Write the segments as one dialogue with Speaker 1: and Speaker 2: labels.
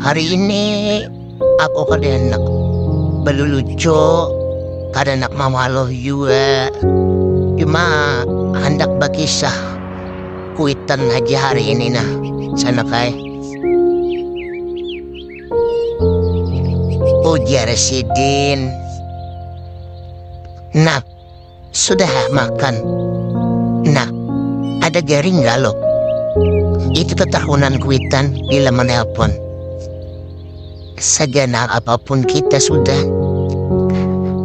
Speaker 1: Hari ini aku kada handak balulucu, kada handak mawaluh jua, cuma handak bakisah kuitan haja hari ini nah sanak ai. Ujar sidin. Nah. Sudah ha makan. Nah, ada garing nggak lo? Itu ketahunan kuitan bila menelpon. Seganal apapun kita sudah,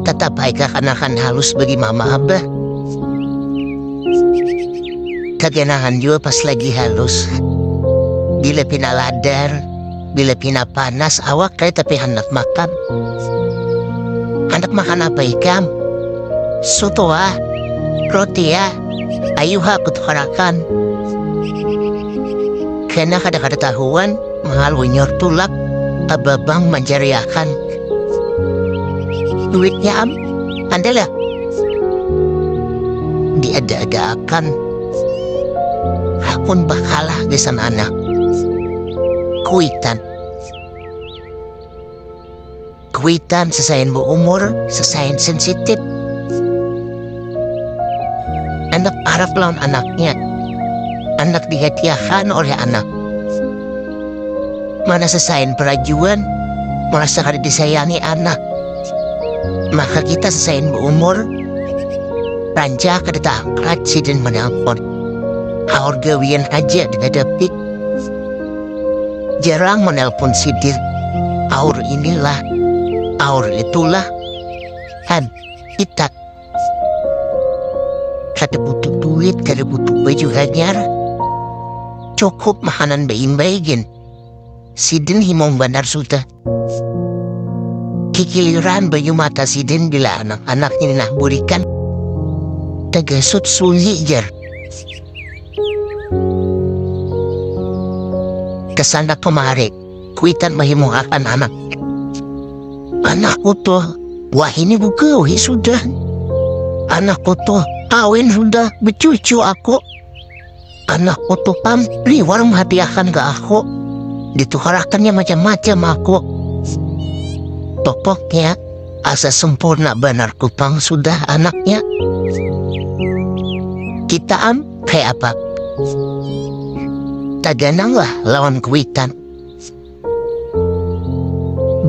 Speaker 1: tetap aja kanakan halus bagi mama abah. Keganahan juga pas lagi halus. Bila pina ladar, bila pina panas awak ai tapi handak makan. Handak makan apa ikam? Soto ah, roti ah, ayu ha kutukarakan. Kena kada kada tahuan, mahal unyor tulak, ababang manjariakan. Duitnya am, andalah. Diada-ada akan. Hakun bakalah gesan anak. kuitan kuitan sesain bu umur sesain sensitif anak arab lawan anaknya anak dihatiakan oleh anak mana sesain perajuan merasa kada disayangi anak maka kita sesain bu umur rancak kada taangkat sidin menelpon haur gawian aja dihadapi Jarang menelpon sidir. Aur inilah, aur itulah. Han, itak. Kada butuh duit, kada butuh baju hanyar. Cukup mahanan baimbai gin. Sidin himung banar sudah. kikiliran banyu mata sidin bila anak anak ini nah burikan tegesut sunyi jer kesana kemari kuitan akan anak anak utuh wah ini buka wih sudah anak utuh kawin sudah becucu aku Anak utuh pam liwar menghadiahkan ke aku. Ditukarakannya macam-macam aku. Pokoknya asa sempurna benar kupang sudah anaknya. Kita am kayak apa? Tagananglah lawan kuitan.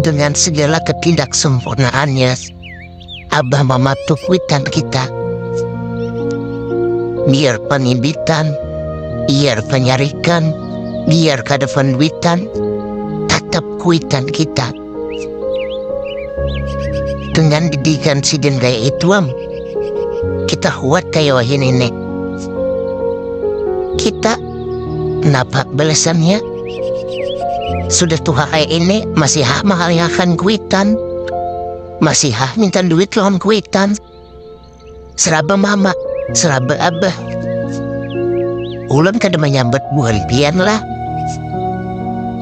Speaker 1: Dengan segala ketidaksempurnaannya, Abah mematuk witan kita. Biar pengibitan, biar penyarikan, biar kada penduitan, tetap kuitan kita. Dengan didikan sidin gaya ituam, kita huat kaya wahini nih. Kita Napa balasannya? Sudah tuha kaya ini, masih hah mahaliakan kuitan? Masih hah minta duit lawan kuitan? Seraba mama, seraba abah. Ulun kada menyambat buhan pian lah.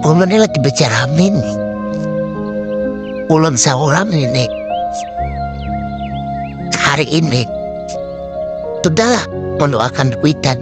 Speaker 1: Ulun ini lagi becaramin. Ulun seorang ini. Hari ini. Sudahlah, mendoakan kuitan.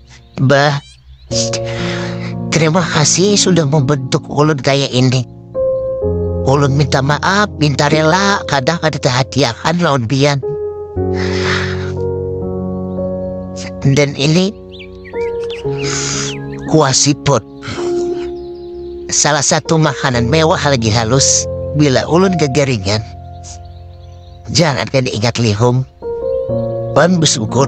Speaker 1: Bah, terima kasih sudah membentuk ulun kayak ini. Ulun minta maaf, minta rela, kadang ada terhatiakan lawan pian. Dan ini kuah siput. Salah satu makanan mewah lagi halus bila ulun kekeringan. jangan kaya diingat lihum wan besyukur.